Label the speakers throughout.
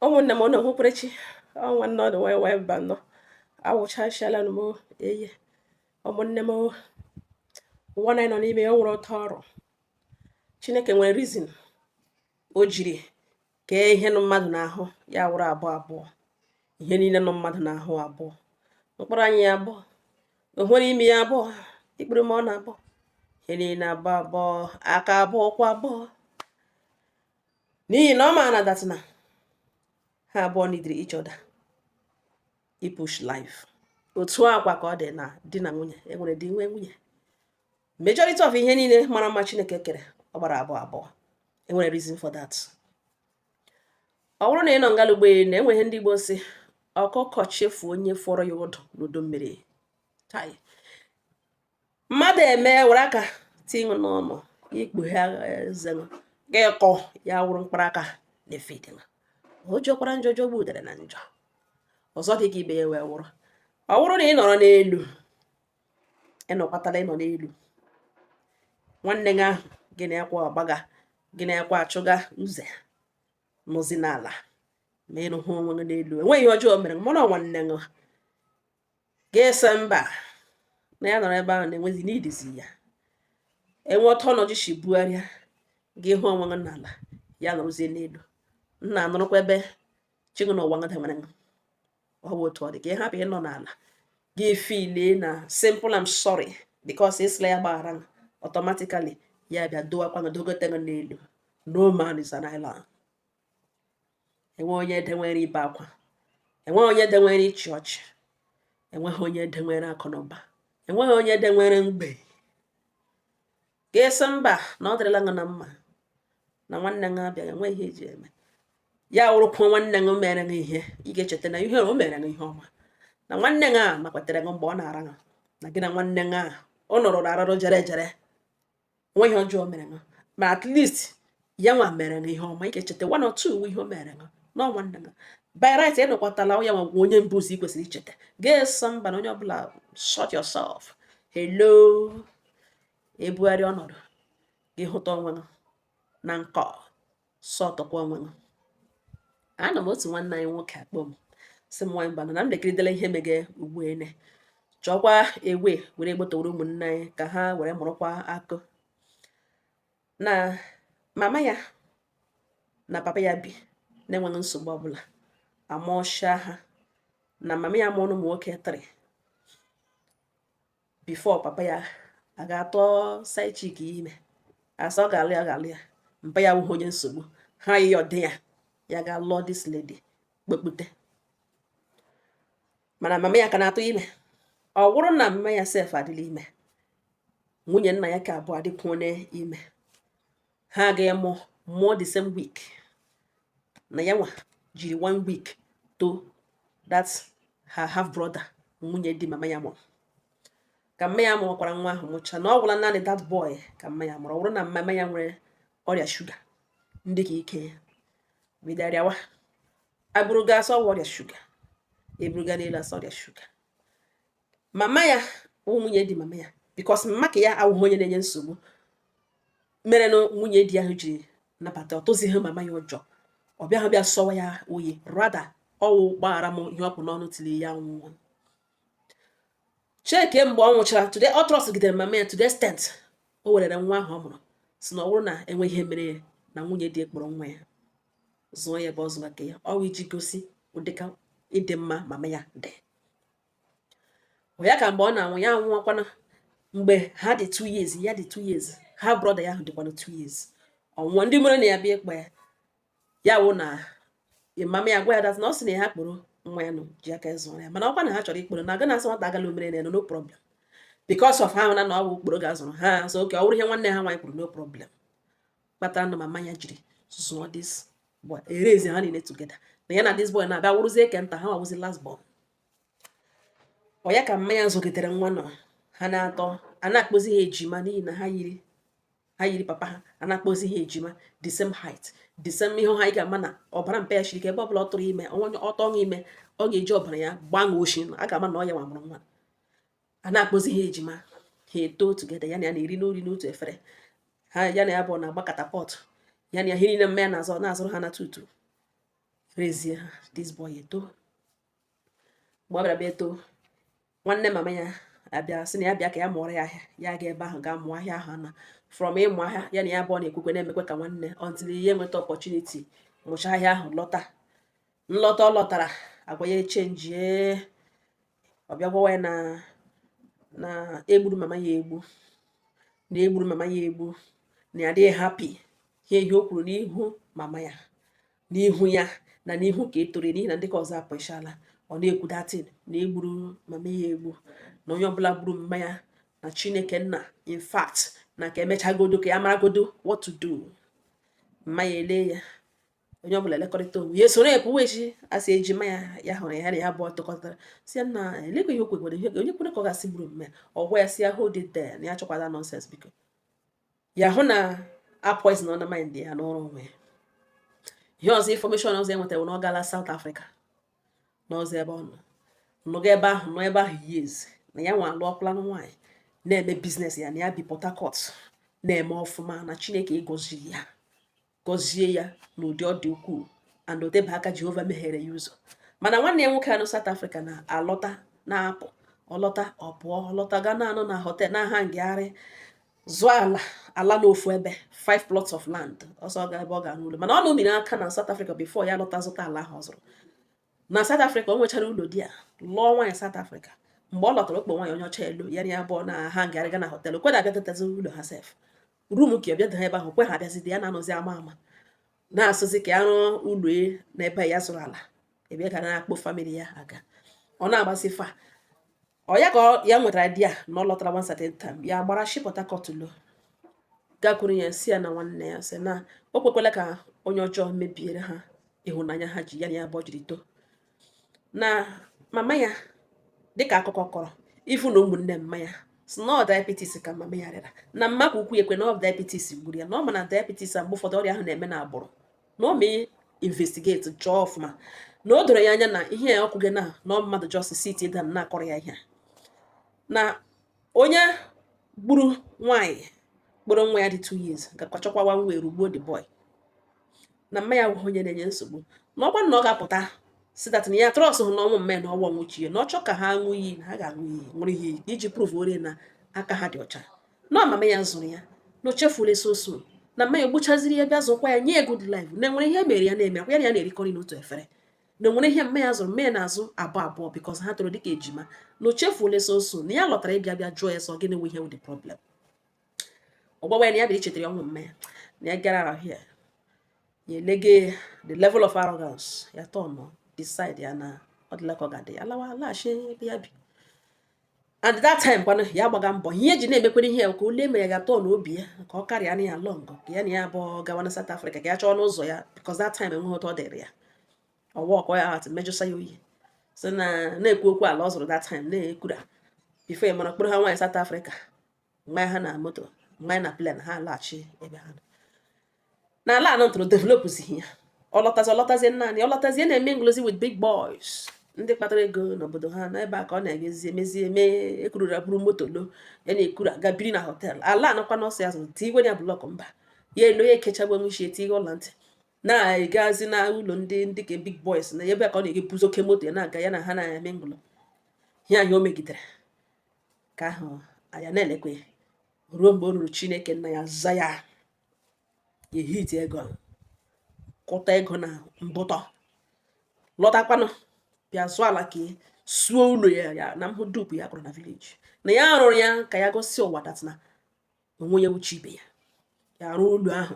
Speaker 1: ụmụnne m ụnụ hụkwerechi ọnwa nnọọ na wee wee mba nnọọ awụchachala m eye ụmụnne m ụwa anyị nọ n'ime ya nwere otu ọ rị chineke nwere reason o jiri kee ihe nọ mmadụ n'ahụ ya wụrụ abụọ abụọ ihe niile nọ mmadụ n'ahụ abụọ mkpụrụ anya ya abụọ oghere imi ya abụọ ikpere ma ọ na-abụọ ihe niile abụọ abụọ aka abụọ ụkwụ abụọ n'ihi na ọ ma na that na ha abụọ nidiri each other ipush life otu a kwa ka ọ dị na di na nwunye enwere di enwee nwunye majority of ihe niile mara mma chineke kere ọ gbara abụọ abụọ enwere reason for that ọ wụrụ na ị nọ ngala ụgbọelu na enweghị ndị Igbo sị ọkụkọ chefu onye foro ya ọdụ n'udu mmiri mmadụ eme were aka tinye n'ọnụ ikpughe eze gị kọ ya wụrụ mkpụrụ aka David ọ jọkwara njọ jọgbuo udere na njọ ọzọ dị ka ibe ya wee wụrụ ọ wụrụ na ị nọrọ n'elu ịnọkwatala ịnọ n'elu nwanne gị ahụ gị na-ekwe ọgbaga gị na-ekwe achụga uze nọzi n'ala ma ị hụ onwe gị n'elu enweghị ihe ọjọọ mere mụ na nwanne gị gị asị mba na ya nọrọ ebe ahụ na-enwezi n'idizi ya enwee otu ọnọdụ si bugharịa gị ahụ onwe gị n'ala ya nọrọzie n'elu nna anụrụkwa ebe chigụ na ụwa ngada nwere ọ bụ otu ọ dị ka ị hapụ ịnọ n'ala gị feel na simple am sorry because ị sịla ya gbaghara automatically ya bịa dowakwa gị dogote gị n'elu no man is an island enwe onye edewere ibe akwa enwe onye edewere ịchị ọchị enweghị onye edewere akụ na ụba enweghị onye edewere mgbei gị asị mba na ọ dịrịla ṅụ na mma na nwanne gị abịaghị enweghị ihe eji eme ya wụrụkwa nwanne gị mere gị ihe ị ga-echeta na ihe o mere gị ihe ọma na nwanne gị a makwatere gị mgbe ọ na-ara gị na nwanne gị a ọ nọrọ na arụrụ jere jere nwe ihe ọjọọ o mere gị ma at least ya nwa mere gị ihe ọma ị ga-echeta one or two ihe o mere gị na nwanne gị by right ịnọkwatala ya nwa wụ onye mbụzi ị kwesịrị icheta gị asị mba na onye ọbụla sort yourself hello ebugharịa ọnọdụ gị hụta onwe gị na nkọ sortụkwa onwe gị ana m otu nwanne anyị nwoke akpọ m sị m nwaanyị bana na m lekiridela ihe mege ugbu a na e chọkwa ewe were gbotowere ụmụnne anyị ka ha were mụrụkwa akọ na mama ya na papa ya bi na-enweghị nsogbu ọbụla amụọcha ha na mama ya mụrụ ụmụ nwoke three before papa ya aga atụ side chick ime a sị ọ ga-alụ ya ga-alụ ya mpa ya wụghị onye nsogbu ha yịọ di ya ya ga lụọ this lady kpọkpọte mana mama ya ka na-atụ ime ọ wụrụ na mama ya sef adịla ime nwunye nna ya ka abụọ adịkwuo ime ha aga mụọ mụọ the same week na ya nwa jiri one week tọọ that her half brother nwunye di mama ya mụrụ ka mma ya mụọkwara nwa ahụ mụcha na ọ wụla naanị that boy ka mma ya mụrụ ọ bụrụ na mama ya nwere ọrịa shuga ndị ka ike ya bido rịawa e buru ga a sị ọ ọrịa shuga e buru ga n'elu a sị ọ ọrịa shuga mama ya bụ nwunye di mama ya because mama ka ya awụghị onye na-enye nsogbu mere na nwunye di ahụ ji nabata ọ tụzighị mama ya ụjọ ọ bịaghị bịa sọwa ya oyi rather ọ wụ gbaghara m ihe ọ kpụ n'ọnụ tiri ya nwụọ cheke mgbe ọ nwụchara today ọ trustgidere mama ya to the extent o werere nwa ahụ ọ mụrụ sị na ọ bụrụ na e nwee ihe mere ya na nwunye di ya kpọrọ nwa ya zụọ ya ebe ọ zụga nke ya ọ wụ iji gosi ụdịka ịdị mma mama ya dị ya ka mgbe ọ na-anwụ ya anwụọkwana mgbe ha dị 2 years ya dị 2 years her brother ya ahụ dịkwana 2 years ọ nwụọ ndị umerenne ya bịa ịkpọ ya ya wụ na mama ya gwa ya that na ọ sị na ha kpọrọ nwa ya nụ ji aka zụọ ya mana ọ kwa na ha chọrọ ịkpọrọ na a ga-na-asị nwata agala umerenne ya no problem because of ha na na ọ bụ okporo ga-azụrụ ha so okay ọ wụrụ ihe nwanne ha nwaanyị kwuru no problem kpatara na mama ya jiri zụọ this boy e raise ha niile together na ya na this boy na-abịa wụrụzie nke nta ha wa wụzi last born ọ ya ka mma ya zụgidere nwa nọ ha na-eto a na-akpọzi ha ejima n'ihi na ha yiri ha yiri papa ha a na-akpọzi ha ejima the same height the same ihe ha ị ga-ama na ọbara mpa ya shiri ike ebe ọbụla ọ tụrụ ime onye ọ tụrụ ime ọ ga-eji ọbara ya gbanwee oshi a ga-ama na ọ ya nwa mụrụ nwa a na-akpọzi ha ejima ha eto together ya na ya na-eri nri n'otu efere ha ya na ya bụ na-agba katapọt ya na ya ihe niile mma ya na-azụ na-azụrụ ha na two two raisie ha this boy eto mgbe ọ bịara bịa eto nwanne mama ya abịa sị na ya bịa ka ya mụọrọ ya ahịa ya ga ebe ahụ gaa mụọ ahịa ahụ na from ịmụ ahịa ya na ya bụ ọ na-ekwekwe na-emekwe ka nwanne until ya enweta opportunity mụcha ahịa ahụ lọta nlọta ọ lọtara agwa ya echenjie ọ bịa gwawa ya na na e gburu mama ya egbu na e gburu mama ya egbu na ya adịghị happy ihe ihe o kwuru n'ihu mama ya n'ihu ya na n'ihu ka e toro n'ihi na ndị ka ọzọ apụchala ọ na-ekwu that thing na e gburu mama ya egbu na onye ọbụla gburu mma ya na chineke nna in fact na ka e mechagodo ka ya maragodo what to do mma ya ele ya onye ọbụla elekọrịta onwe ya esoro epu wee chi asị ejima ya ya hụrụ ya na ya abụọ tokọtara si ya na elekwa ihe okwekwere ihe onye kwere ka ọ gasị gburu mme ọ gwa ya si ya hold it there na ya achọkwala nonsense biko ya hụ na a poisonọla mind ya nọrọ onwe ya ihe ọzọ information ọzọ e nwetara na ọ gala South Africa n'ọzọ ebe ọ nọ nọga ebe ahụ nọ ebe ahụ years na ya nwa alụọkwala nwaanyị na-eme business ya na ya bi Port Harcourt na-eme ọfụma na Chineke gọziri ya gọzie ya n'ụdị ọ dị ukwuu and o tebe aka Jehova meghere ya ụzọ mana nwanne ya nwoke a nọ South Africa na-alọta na-apụ ọ lọta ọ pụọ ọ lọta ga na-anọ na hotel na-aha ngagharị zụọ ala ala n'ofu ebe five plots of land ọ sị ọ ga ebe ọ ga-arụ ụlọ mana ọ nọmiri aka na South Africa before ya lọta zụta ala ahụ ọ zụrụ na South Africa o nwechara ụlọ there lụọ nwaanyị South Africa mgbe ọ lọtara ọ kpọ nwaanyị onye ọcha elu ya na ya abụọ na ha ngagharịga na hotel kweda abịa tetazi ụlọ ha sef rum ka bịa daa ebe ahụ kwe ha abịazide ya na-anọzi ama ama na-asịzi ka ya rụọ ụlọ e n'ebe ya zụrụ ala ebe ọ ga na-akpọ family ya aga ọ na-agbasi fa ọ ya ka ya nwetara idea na ọ lọtara one certain time ya gbara shi Port Harcourt lo gakwuru ya si ya na nwanne ya sị na o kwekwala ka onye ọjọọ mebiere ha ịhụnanya ha ji ya na ya abụọ jiri too na mama ya dịka akụkọ kọrọ even ụmụnne mma ya si na ọ diabetes ka mama ya rịara na mma ka ukwu ekwe na ọ diabetes gburu ya na ọ ma na diabetes a mgbe ụfọdụ ọrịa ahụ na-eme na agbụrụ na ọ mee investigate chọọ ọfụma na o doro ya anya na ihe a ọ kwuga na ọ mmadụ just sit down na-akọrọ ya ihe na onye gburu nwaanyị kpọrọ nwa ya dị 2 years gakwa chọkwawa nwa erugbuo the boy na mma ya wụghị onye na-enye nsogbu na ọkwa na ọ ga-apụta sị that na ya trust hụ n'ọnwụ mme na ọnwụ nwụchie na ọ chọ ka ha ṅụ iyi na ha ga-aṅụ iyi nwere ihe iji prove ore na aka ha dị ọcha na ọ mama ya zụrụ ya na o chefule so soon na mma ya egbuchaziri ya bịa zụkwa ya nye good life na e nwere ihe mma ya na-eme ọkwa ya na ya na-erikọrị n'otu efere na o nwere ihe mma ya zụrụ mma ya na-azụ abụọ abụọ because ha toro dịka ejima na o chefuola so soon na ya lọtara ịbịa bịa jụọ ya so gịnị nwe ihe wụ the problem ọ gwawa ya na ya bịara ichetara ya ọnwụ mma ya na ya gara ahụ ya ya elege the level of arrogance ya tọnụ decide ya na ọ dịla ka ọ ga-adị ya lawa laghachi ebe ya bi and that time kwana ya gbaga mbọ ihe e ji na-emekwere ihe ka ole ma ya ga-atọ n'obi ya ka ọ karịa na ya long ka ya na ya abụọ gawa na South Africa ka ya chọọnụ ụzọ ya because that time enweghị otu ọ dịrị ya ọwa ọkọ ya atụ mejọsa ya oyi so na na-ekwu okwu ala ọ zụrụ that time na-ekwura before ya mara kpọrọ ha nwaanyị South Africa manye ha na moto manye na plen ha laghachi ebe ha na ala ahụ ọ zụrụ developụzighị ya ọ lọtazi ọ lọtazie naanị ọ lọtazie na-emingụlụzi with big boys ndị kpatara ego n'obodo ha n'ebe a ka ọ na-emezi emezi eme ekururu buru moto lo ya na ekuru aga biri na họtel ala ahụkwanụ ọ sị ya zụrụ tigwe ya blọk mba ya elo ya ekechagbu enwe isi etighe ụlọ ntị na-agazi na ụlọ ndị ndị ka big boys na ebe a ka ọ na-egebuzi oke moto ya na-aga ya na ha na-emingụlụ ya ya o megidere ka ahụ anya na-elekwe ruo mgbe o ruru Chineke nna ya aza ya ya ehiti ego kuta ego na mbụtọ lọtakwanụ bịa zụọ ala ka suo ụlọ ya na mhụ dupu ya kụrụ na vileji na ya rụrụ ya ka ya gosi ụwa that na onwe ya wụ chi ibe ya ya arụ ụlọ ahụ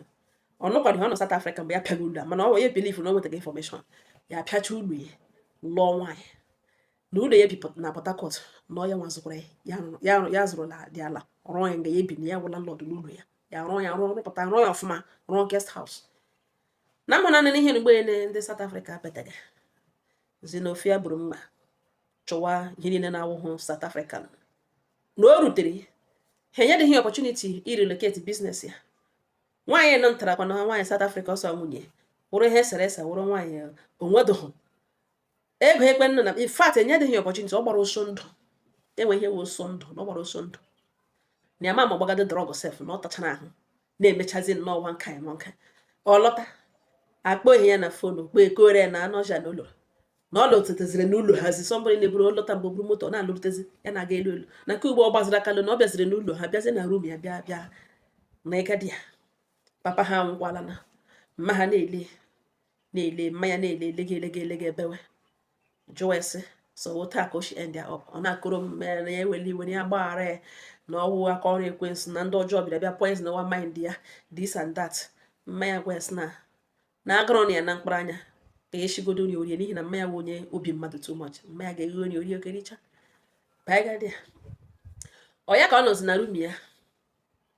Speaker 1: ọ nọkwadị ọ nọ South Africa mgbe ya pịaga ụlọ a mana ọ ya bilivu na o nwetaghị infọmeshọn ya apịacha ụlọ ya lụọ nwaanyị na ụlọ ya bi na Port Harcourt na ọ ya nwa zụkwara ya ya zụrụladị ala rụọ ya nga ya ebi na ya wụ landlọdụ n'ụlọ ya ya rụọ ya rụọ rụpụta rụọ ya ọfụma rụọ guest house na ama nanị n'ihe mgbe ndị South Africa petaga xenophobia buru mma chụwa ihe niile na-awụhụ South African na o rutere ha enyedịghị ọpọchuniti irelocate biznes ya nwaanyị nọ ntarakwa na nwaanyị South Africa ọsọ nwunye wụrụ ihe e sere ese wụrụ nwaanyị o nwedịghị ego ekwe nna na in fact enyedịghị ọpọchuniti ọ gbara ọsọ ndụ e nwe ihe wụ ọsọ ndụ na ọ gbara ọsọ ndụ na ya ma ma gbagado drọg sef na ọ tachara ahụ na-emechazi n'ọnwa nka nwa nka ọ lọta akpọ ihe ya na fonu kpọ kọọrọ ya na ọ nọcha n'ụlọ na ọ lọtetaziri n'ụlọ ha asị ọ bụrụ na-eburu ọ lọta mgbe buru moto na-alụrụtezi ya na-aga elu elu na nke ugbu a ọ gbaziri aka lọ na ọ bịaziri n'ụlọ ha bịazi na rum ya bịa bịa na ịga di ya papa ha anwụkwala na mma ha na-ele na-ele mma ya na-ele elege elege elege ebewe jụọ ya sị so otu a ka o si endie ọp ọ na-akọrọ omume ya na ya eweli iwe na ya gbaghara ya na ọ wụ aka ọrụ ekwensu na ndị ọjọọ bịara bịa poisonụwa mind ya this and that mma ya gwa ya sị na na agụrụ nọ ya na mkpụrụ anya ka e sigodo nri o rie n'ihi na mma ya bụ onye obi mmadụ too much mma ya ga-eghe nye ya o rie okericha ọ ya ka ọ nọzi na rum ya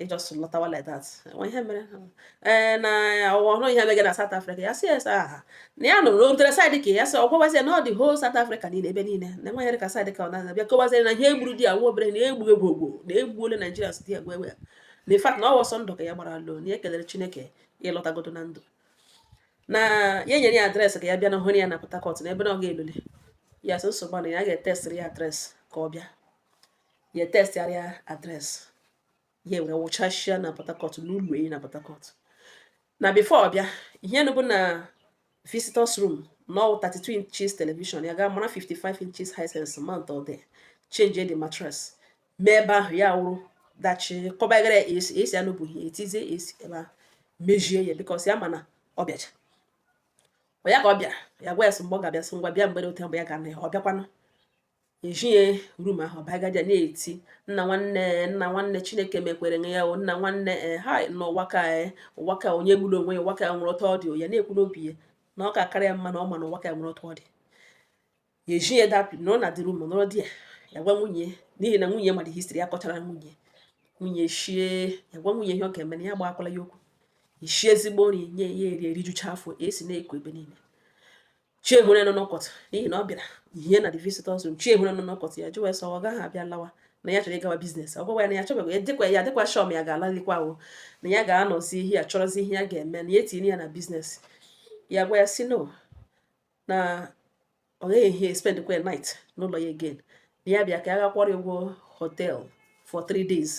Speaker 1: ị jọs lọtawa like that nwe ihe mere ee na ọ wụ ọ hụrụ ihe mege na South Africa ya sị yes aha na ya nụrụ otere saịdị ka ya sị ọ gwawazie na ọ the whole South Africa niile ebe niile na enweghị area ka saịdị ka ọ na-aza bịa kọwazie na ihe egburu di ya nwa obere na egbu egbu ogbo na egbuole Naijiria si di ya gwa egbe na in fact na ọ wụ ọsọ ndụ ka ya gbara lọ na ya kelere Chineke ịlọtagodo na ndụ na ya nyere ya adreesị ka ya bịa na hụrụ ya na Port Harcourt na ebe na ọ ga-elule ya sị nsogbu na ya ga-etestịrị ya adreesị ka ọ bịa ya textịara ya address ya were wụchasịa na Port Harcourt n'ụlọ enyi na Port Harcourt na before ọ bịa ihe nọbu na visitors room na 32 inches television ya ga mara 55 inches Hisense mountụọ there change the mattress mee ebe ahụ ya wụrụ dachi kọbagara AC AC anọbu ihe etizie AC ebe ahụ mejie ya because ya ma na ọ bịacha ya ka ọ bịara ya gwa ya sị mgbe ọ ga-abịa sị ngwa bịa mgbede otu mgbe ya ga na ya ọ bịakwanụ ejie room ahụ bagaja na-eti nna nwanne nna nwanne chineke mekwere nye ya o nna nwanne ee ha nọ ụwa ka ee ụwa ka onye gburu onwe ya ụwa ka nwere ụtọ dị ya na-ekwu n'obi ya na ọ ka kara ya mma na ọ ma na ụwa ka nwere ụtọ dị ya eji ya dapụ nọrọ na the room nọrọ di ya ya gwa nwunye n'ihi na nwunye mara history ya kọchara nwunye nwunye shie ya gwa nwunye ihe ọ ga-eme na ya gwakwala ya okwu shie ezigbo nri nye ya eri erijucha afọ AC na-eku ebe niile chi ehure nọ n'ụtụtụ n'ihi na ọ bịara hie na the visitors room chi ehure nọ n'ụtụtụ ya jụwa sị ọ gaghị abịa lawa na ya chọrọ ịgawa business ọ gwawa ya na ya chọbeghị ya dịkwa ya dịkwa sure ma ya ga-alalikwa ahụ na ya ga-anọzi ihe ya chọrọzi ihe ya ga-eme na ya etinye ya na business ya gwa ya sị no na ọ gaghị ehi spend kwa night n'ụlọ ya again na ya bịa ka ya gaa kwụọrọ ụgwọ hotel for three days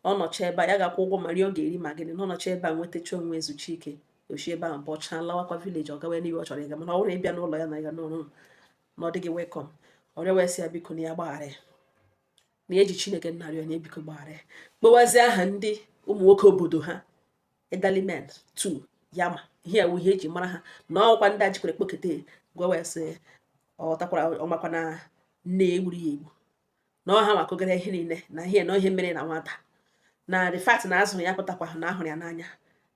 Speaker 1: ọ nọcha ebe a ya ga-akwụ ụgwọ ma nri ọ ga-eri ma gịnị na ọ nọcha ebe a nwetacha onwe ezuchi ike o si ebe ahụ bọcha lawakwa village ọ gawa n'ebe ọ chọrọ ịga mana ọ bụrụ ịbịa n'ụlọ ya na ya n'ụlọ na ọ dịghị welcome ọ rịọ wee sị ya biko na ya gbaghara ya na e ji chineke na-arịọ ya biko gbaghara ya kpọwazi aha ndị ụmụ nwoke obodo ha elderly men two ya ma ihe a wụ ihe e ji mara ha na ọ kwa ndị a jikwere kpokete gwa wee sị ọ takwara ọ makwa na nne egburu ya egbu na ọ ha nwa kọgara ihe niile na ihe na ihe mere na nwata na the fact na a zụrụ ya pụtakwa na a hụrụ ya n'anya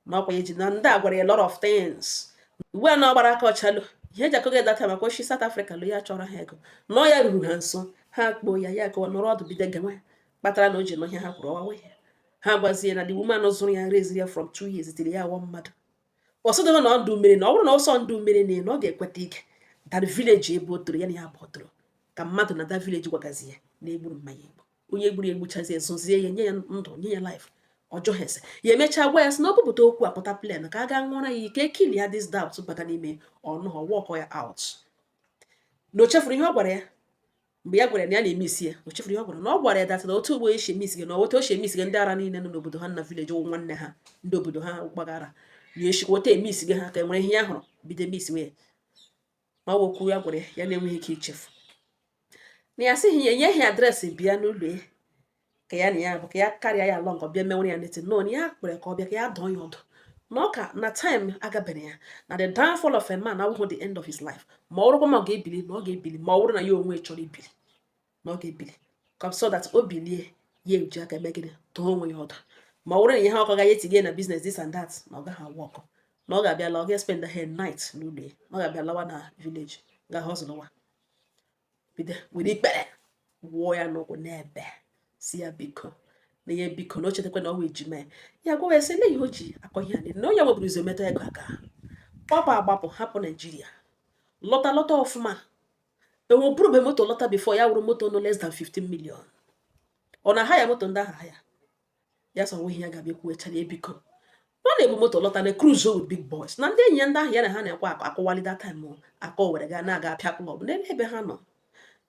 Speaker 1: na ọkwa eji na ndị a gwara ya lot of things ugbu a na ọ gbara aka ọchalụ ihe eji akọga that time maka o si South Africa lọ ya chọrọ ha ego na ọ ya ruru ha nso ha kpoo ya ya gawa nọrọ ọdụ bido gawa kpatara na o ji nụ ihe ha kwuru ọ wawa ya ha gwazie na the woman zụrụ ya raiseri ya from two years till ya awụọ mmadụ ọsọdụrụ na ọdụ mmiri na ọ bụrụ na ọsọ ndụ mmiri na na ọ ga-ekweta ike that village ebe o toro ya na ya bụ o toro ka mmadụ na that village gwagazi ya na e gburu mama ya egbu onye gburu egbuchazi ezozie ya nye ya ndụ nye ya life ọjọ ha ese ya emechaa gwa ya sị na ọ bupụta okwu apụta plan ka a gaa ṅụọra ya ike clear this doubt bata n'ime ọnụ ha walkụọ ya out na o chefuru ihe ọ gwara ya mgbe ya gwara na ya na-emesi ya o chefuru ihe ọ gwara na ọ gwara ya that time na otu ugbo e si emesi gị na otu o si emesi gị ndị ara niile nọ n'obodo ha na village wụ nwanne ha ndị obodo ha gbagara ya e sikwa otu emesi gị ha ka e nwere ihe ya hụrụ bido emesiwe ma okwu ya gwara ya na enweghị ike ichefu na ya sịghị ya enyeghị address bịa n'ụlọ ya ka ya na ya bụ ka ya karịa ya alọ nke ọbịa menwere ya neti nọ na ya kpere ka ọ bịa ka ya dụọ ya ọdụ na ọkwa na time agabere ya na the downfall of a man awụghị the end of his life ma ọ bụrụkwa ma ọ ga-ebili na ọ ga-ebili ma ọ bụrụ na ya onwe chọrọ ibili na ọ ga-ebili ka so that o bilie ya eji aka eme gịnị dụọ onwe ya ọdụ ma ọ bụrụ na ihe ọkọ gaghị etinye na business this and that na ọ gaghị awụ ọkụ na ọ ga-abịa la ọ ga-espend a night n'ụlọ ya na ọ ga-abịa lawa na village gaa họzụlụwa bido were ikpere wụọ ya n'ụkwụ na-ebe sị ya biko na ya biko na o chetakwa na ọ wụ ejima ya ya gwawa ya sị na ihe o ji akọ ihe a na onye buru ụzọ metụ ego aka gbapụ agbapụ hapụ Nigeria lọta lọta ọfụma enwe bụrụ mgbe moto lọta before ya wụrụ moto no less than 15 million ọ na ha ya moto ndị aha ha ya ya sị ọ nweghị ihe ya ga-abịa kwuo chara ebiko ọ na-ebu moto lọta na cruise with big boys na ndị enyi ya ndị ahụ ya na ha na-ekwe akụ akụwali that time akọ were gaa na-aga apịa club n'ebe ebe ha nọ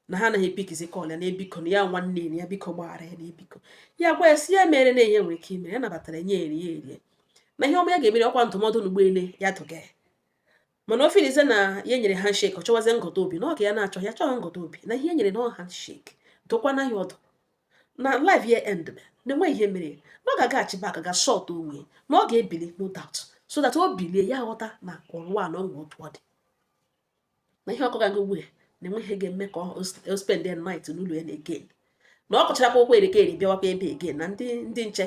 Speaker 1: na ha anaghị epikizi call ya na ebiko na ya nwanne enyi ya biko gbaghara ya na ebiko ya gwa ya sị ya mere ihe ya nwere ike ime ya nabatara nye ya nri ya erie na ihe ọma ya ga-emere ọkwa ndụmọdụ n'ụgbọele ya dụga ya mana o filize na ya nyere handshake ọ chọwazie ngọta obi na ọ ka ya na-achọ ya chọghị ngọta obi na ihe nyere na ọ handshake dụkwana ya ọdụ na life ya end na enweghị ihe mere na ọ ga-agaghachi back gaa sort onwe na ọ ga-ebili no doubt so that o bilie ya ghọta na ụwa na o nwe otu ọ dị na ihe ọ kọga ugbu a na enweghị ihe ga-eme ka o spend the night n'ụlọ ya again na ọ kọchara akụkọ erika eri bịawakwa ebe a again na ndị ndị nche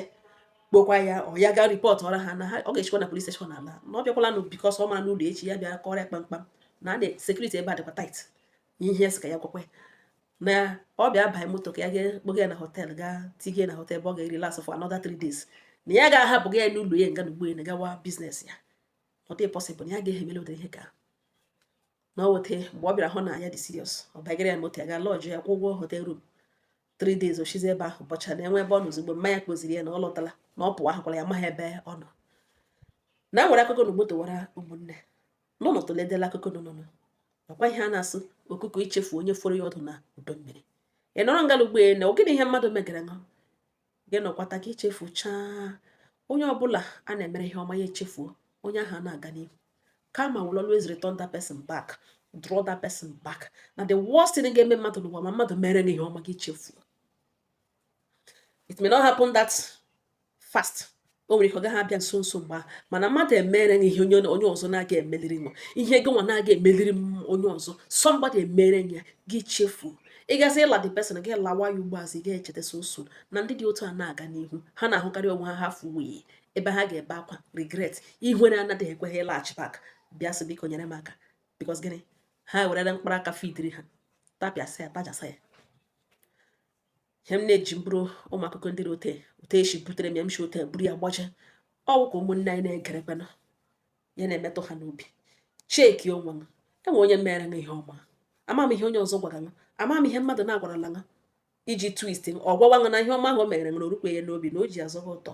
Speaker 1: kpọkwa ya ọ ya gaa report ọra ha na ha ọ ga-echekwa na police station ala na ọ bịakwala nụ because ọ mara ụlọ echi ya bịa kọrọ ya kpamkpam na security ebe a dịkwa tight ihe sị ka ya gwakwa na ọ bịa banye moto ka ya ga kpọga ya na hotel gaa tinye na hotel ebe ọ ga-erelax for another three days na ya ga-ahapụ ga ya n'ụlọ ya nga na ugbo ya na gawa business ya ọ dị possible na ya ga-emeli ụdị ihe ka na ọ weta mgbe ọ bịara hụ na ya dị serious ọ bagara ya moto ya ga lọjụ ya kwụ ụgwọ hotel room three days ochizi ebe ahụ bọcha na enwe ebe ọ nọ ozugbo mmanya kpoziri ya na ọ lọtala na ọ pụwa ahụkwala ya amaghị ebe ọ nọ na nwere akụkọ na ugbo towara ụmụnne n'ụlọ toledela akụkọ n'ụlọ ọkwa ihe a na-asị ọkụkọ echefu onye foro ya ọdụ n'udu mmiri ị nọrọ ngala ugbo na ọ gịnị ihe mmadụ megara ṅụ gị nọkwata ka i chefuchaa onye ọbụla a na-emere ihe ọma ya echefuo onye ahụ na-aga n'ihu karma will always return that person back draw that person back na the worst thing ga-eme mmadụ n'ụwa ma mmadụ mere gị ihe ọma gị chefuo it may not happen that fast o nwere ike ọ gaghị abịa nso nso mgbe ahụ mana mmadụ emere gị ihe onye ọzọ na-agaghị emeliri nwa ihe gị nwa na-agaghị emeliri onye ọzọ somebody emere ya gị chefuo ịgazi ịla the person gị lawa ya ugbo azụ ị ga-echeta so nso na ndị dị otu a na-aga n'ihu ha na-ahụkarị onwe ha ha fuwee ebe ha ga-ebe akwa regret ihere anaghị ekwe ha ịlaghachi back bịa sị biko nyere m aka because gịnị ha werere mkpụrụ aka fidiri ha tapịasị ya tajasa ya ihe m na-eji mkpụrụ ụmụ akụkọ ndị ote ote esi butere m ya m si ote buru ya gbaje ọ wụ ka ụmụnne anyị na-egerekwana ya na-emetụ ha n'obi cheki onwe m enwe onye mere m ihe ọma ama m ihe onye ọzọ gwara m ama m ihe mmadụ na-agwarala m iji twist m ọ gwawa m na ihe ọma ahụ o mere m na o rukwe ya n'obi na o ji azọ ha ụtọ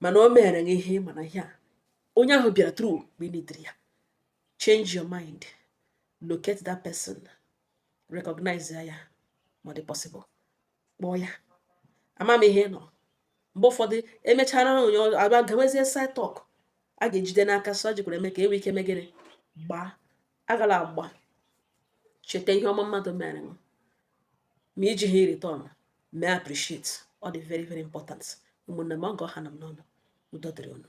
Speaker 1: mana o mere m ihe mana ihe a onye ahụ bịara tru mgbe ị ya change your mind locate that person recognize ya ma ọ dị possible kpọọ ya ama m ihe nọ mgbe ụfọdụ emechara onye abịa gawezie side talk a ga-ejide n'aka sọ jikwara eme ka e nwee ike megịrị gbaa agala agba cheta ihe ọma mmadụ mere m ma iji ha return mee appreciate ọ dị very very important ụmụnne m ọgọ ha na m n'ọnụ udo dịrị unu